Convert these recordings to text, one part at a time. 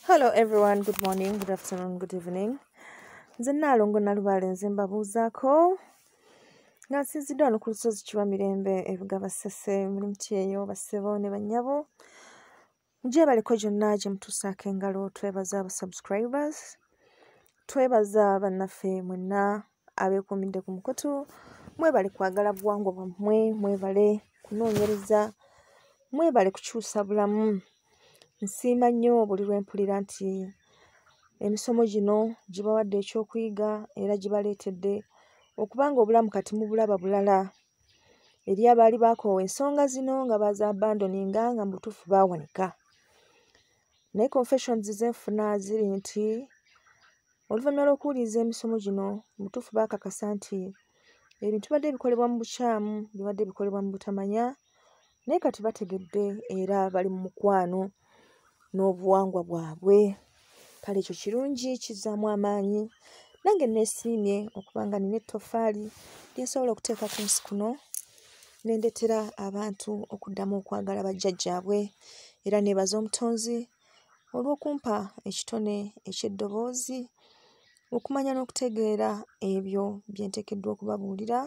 hello everyone good morning good afternoon good evening nze naalongo nalubaale nze mbabuuzaako nga nsinzidde wano ku lusozi kiwa mirembe ebugaba ssese muli mutyeyo bassebo ne bannyabo gyebaliko gyonna gye mutuusaako engalo twebaza aba subscribers twebaza bannaffe mwenna abeekuumidde ku mukutu mwebale kwagala buwangwa bwammwe mwebale kunoonyereza mwebale kukyusa bulamu nsiima nnyo buli lwe mpulira nti emisomo gino gibawadde ekyokuyiga era gibaleetedde okubanga obulamu kati mubulaba bulala eri abaali bakoowa ensonga zino nga baza abandoninga nga mu butuufu baawanika naye confessions ze nfuna ziri nti oluvannyuma lw'okuwuliriza emisomo gino mu butuufu baakakasa nti ebintu bibadde bikolebwa mu bukyamu bibadde bikolebwa mu butamanya naye kati bategedde era bali mu mukwano n'obuwangwa bwabwe kale ekyo kirungi kizzaamu amaanyi nange neesiimye okuba nga nina ettofaali lyensobola okuteeka ku nsi kuno nendetera abantu okuddamu okwagala bajjajjaabwe era neebaza omutonzi olw'okumpa ekitone eky'eddoboozi okumanya n'okutegeera ebyo bye nteekeddwa okubabuulira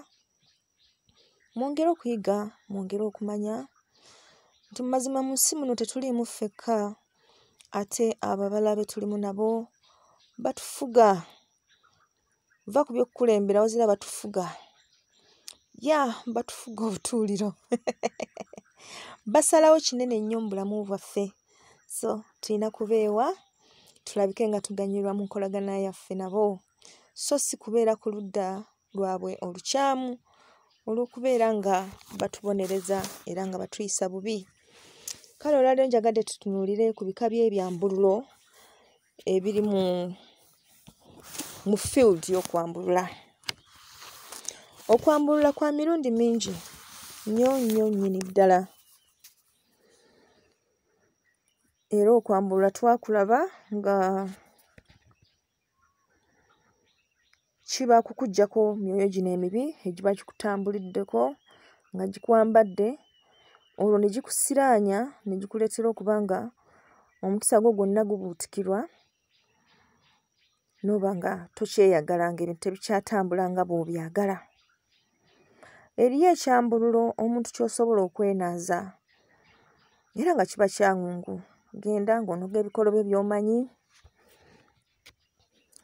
Mwongere okuyiga, mwongere okumanya nti mu mazima mu nsi muno tetuliimu ffekka ate abo abalala be tulimu nabo batufuga. Va ku by'okukulembera wazira batufuga. Ya batufuga obutuuliro. Basalawo kinene nnyo mu bulamu bwaffe. So tulina kubeewa tulabike nga tuganyulwa mu nkolagana yaffe nabo so si kubeera ku ludda lwabwe olukyamu olw'okubeera nga batubonereza era nga batuyisa bubi kale olwaliro njagadde tutunuulire ku bika by'ebyambululo ebiri mu mu field y'okwambulula okwambulula kwa mirundi mingi nnyo nnyo nnyini ddala era okwambulula twakulaba nga kiba kukuggyako myoyo gino emibi egiba gikutambuliddeko nga gikwambadde olwo ne gikusiraanya ne gikuleetera okuba nga omukisa gwo gwonna gubuutikirwa n'oba nga tokyeyagalanga ebintu tebikyatambula nga bw'obyagala eriyo ekyambululo omuntu kyosobola okwenaaza era nga kiba kyangu genda ng'onoga ebikolo bye byomanyi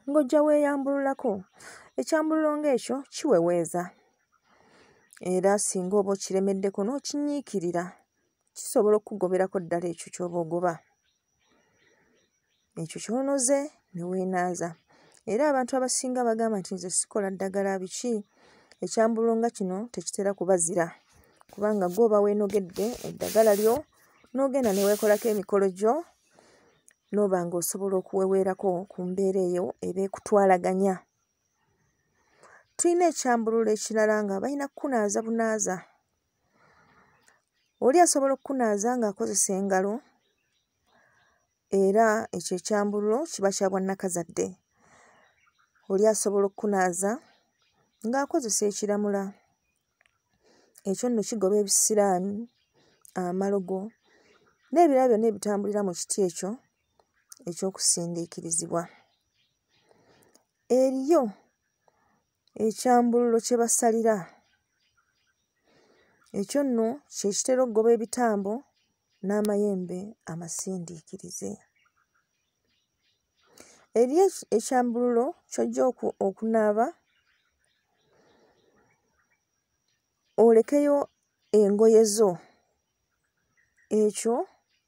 ng'ojja weeyambululako ekyambululo ng'ekyo kiweweeza era singa oba okiremeddeko n'okinyiikirira kisobola okukugoberako ddala ekyo ky'oba ogoba ekyo kyonoze ne weenaaza era abantu abasinga bagamba nti nze sikola ddagala biki ekyambulo nga kino tekitera kubazira kubanga gwe oba weenogedde eddagala lyo n'ogenda ne weekolako emikolo gyo n'oba ng'osobola okuweweerako ku mbeera eyo eba ekutwalaganya tulina ekyambulula ekirala nga balina kukunaaza bunaaza oli asobola okukunaaza ng'akozesa engalo era ekyo ekyambululo kiba kya bwannakazadde oli asobola okukunaaza ng'akozesa ekiramula ekyo nno kigoba ebisiraani amalogo n'ebirala byonna ebitambulira mu kiti ekyo eky'okusindiikirizibwa eriyo ekyambululo kye basalira ekyo nno kye kitera okugoba ebitambo n'amayembe amasindiikirize eri ekyambululo ky'ojja okunaaba olekeyo engoye zo ekyo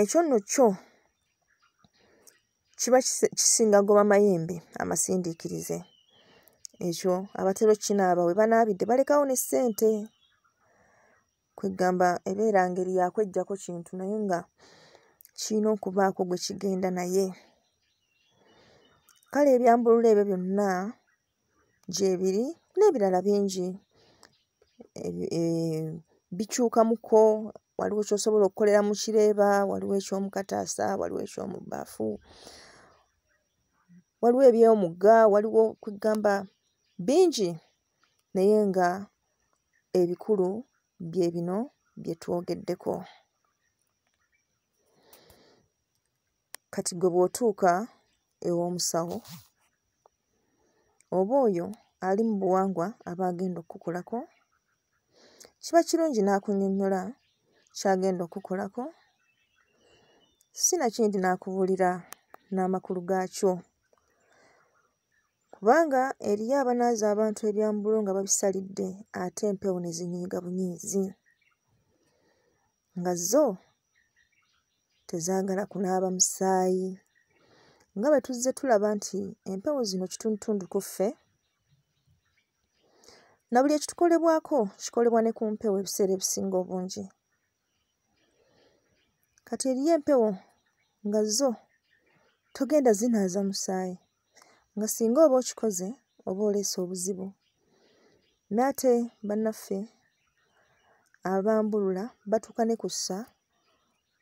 ekyo nno kyo kiba kisinga goba mayembe amasindiikirize ekyo abatera okukinaaba we banaabidde balekawo ne ssente kweggamba ebeera ngeri yakwejjako kintu naye nga kirina okubaako gwe kigenda naye kale ebyambulula ebyo byonna gyebiri n'ebirala bingi eh, bikyukamuko waliwo kyosobola okukolera mu kireeba waliwo ekyomukataasa waliwo ekyomubbaafu waliwo ebyomugga waliwo kwegamba bingi naye nga ebikulu bye bino bye twogeddeko kati gwe bw'otuuka ew'omusawo oba oyo ali mu buwangwa aba agenda okukukolako kiba kirungi n'akunyonnyola ky'agenda okukukolako si nakindi n'akubuulira n'amakulu gaakyo kubanga eriyo abanaaza abantu ebyambulo nga babisalidde ate empewo ne zinyiiga bunyiizi nga zo tezaagala kunaaba musaayi nga bwe tuzze tulaba nti empewo zino kitundutundu ku ffe na buli ekitukolebwako kikolebwa ne ku mpewo ebiseera ebisinga obungi kati eriyo empewo nga zo togenda zinaaza musaayi nga singa oba okikoze oba oleese obuzibu n'ate bannaffe abambulula batuuka ne ku ssa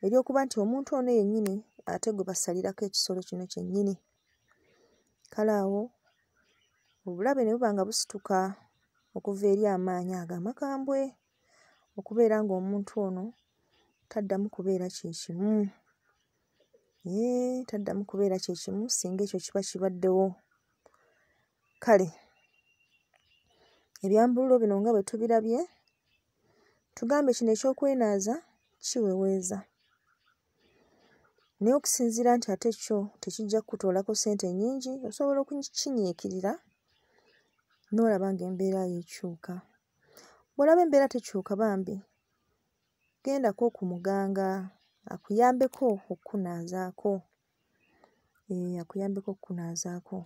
ery'okuba nti omuntu ono yennyini ate gwe basalirako ekisolo kino kyennyini kale awo obulabe ne buba nga busituka okuva eri amaanyi ago amakambwe okubeera ng'omuntu ono taddamu kubeera kye kimu Yee, taddamu kubeera kye kimu singa ekyo kiba kibaddewo. Kale ebyambululo bino nga bwe tubirabye, tugambye kino eky'okwenaaza kiweweeza. Naye okusinziira nti ate kyo tekijja kukutoolako ssente nnyingi, osobola okukinyiikirira n'olaba ng'embeera yo ekyuka. Bw'olaba embeera tekyuka bambi, gendako ku muganga akuyambeko okukunaazaako ee akuyambeko okukunaazaako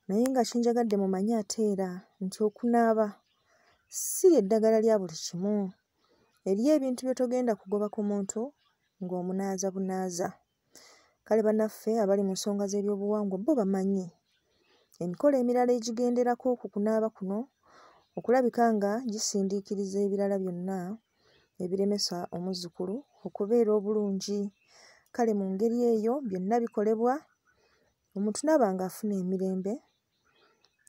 naye nga kinjagadde mumanye ate era nti okunaaba si eddagala lya buli kimu eriyo ebintu by'otogenda kugoba ku muntu ng'omunaaza bunaaza kale banaffe abali mu nsonga z'ebyobuwangwa bo bamanyi emikolo emirala egigenderako ku kunaaba kuno okulabika nga gisindiikiriza ebirala byonna ebiremesa omuzzukulu okubeera obulungi kale mu ngeri eyo byonna bikolebwa omuntu naaba ng'afuna emirembe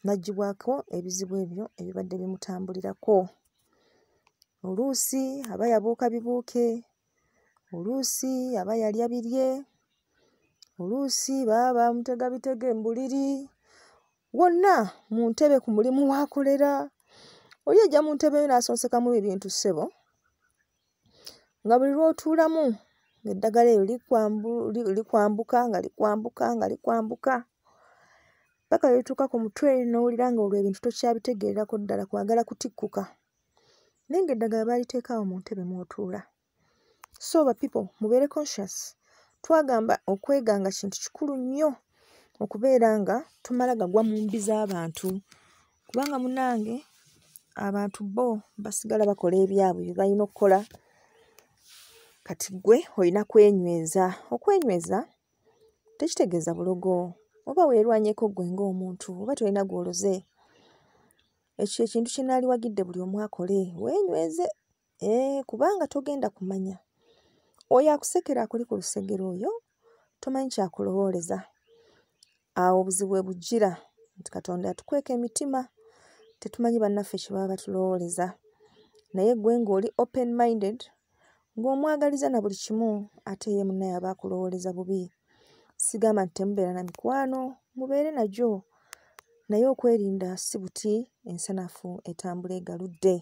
n'aggyibwako ebizibu ebyo ebibadde bimutambulirako oluusi aba yabuuka bibuuke oluusi aba yalya birye oluusi baba bamutega bitege mu buliri wonna mu ntebe ku mulimu waakolera oli ejja mu ntebe yo n'asonsekamu ebintu ssebo nga buli lw'otuulamu ng'eddagala eryo likwambuka nga likwambuka nga likwambuka paka lwetuuka ku mutwe n'owulira nga olwo ebintu tokyabitegeererako ddala kwagala kutikkuka naye nga eddagala baaliteeka awo mu ntebe mw'otuula so ba people mubeere conscious twagamba okweganga kintu kikulu nnyo okubeera nga tumala gagwa mu mbi z'abantu kubanga munange abantu bo basigala bakola ebyabwe bye balina okukola kati gwe olina kwenyweza okwenyweza tekitegeeza bulogo oba weerwanyeko gwe ng'omuntu oba tolina gw'oloze Ekyo kye kintu kye naaliwagidde buli omu akole, weenyweze eh, kubanga togenda kumanya. Oyo akusekera akuli ku lusegere oyo tomanyi kyakulowooleza. Awo obuzibu we bujjira nti Katonda yatukweka emitima, tetumanyi bannaffe kye baba batulowooleza. Naye gwe ng'oli open minded, ng'omwagaliza na buli kimu ate ye munnaye aba akulowooleza bubi sigamba nti temubeera na mikwano mubeere nagyo naye okwerinda si buti ensanafu etambula egaludde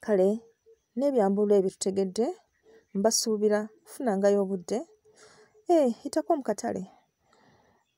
kale n'ebyambulo ebyo tutegedde mbasuubira kufunangayo obudde ee eh, hitako mu katale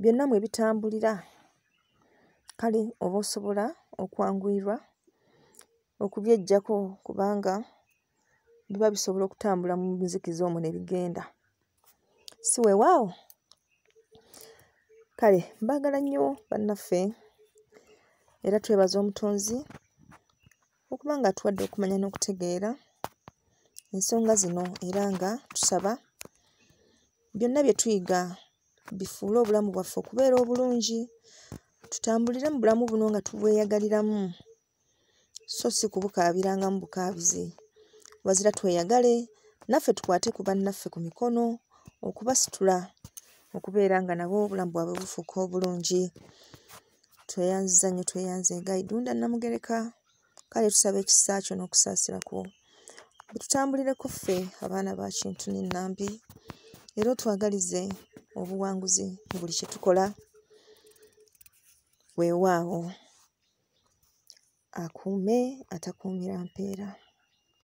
byonna mwe bitambulira kale oba osobola okwanguyirwa okubyeggyako kubanga biba bisobola okutambula mu nzikiza omwo ne bigenda si weewaawo kale mbaagala nnyo bannaffe era twebaza omutonzi okuba nga tuwadde okumanya n'okutegeera ensonga zino era nga tusaba byonna bye tuyiga bifuule obulamu bwaffe okubeera obulungi tutambulire mu bulamu buno nga tubweyagaliramu so si kubukaabirangamu bukaabizi wazira tweyagale naffe tukwate ku bannaffe ku mikono okubasitula okubeera nga nabo obulamu bwabwe bufuuka obulungi tweyanziza nnyo tweyanze gaidunda namugereka kale tusaba ekisa kyo n'okusaasira kwo bitutambulire ku ffe abaana ba kintu nenambi era otwagalize obuwanguzi mu buli kye tukola weewaawo akuume atakuumira mpeera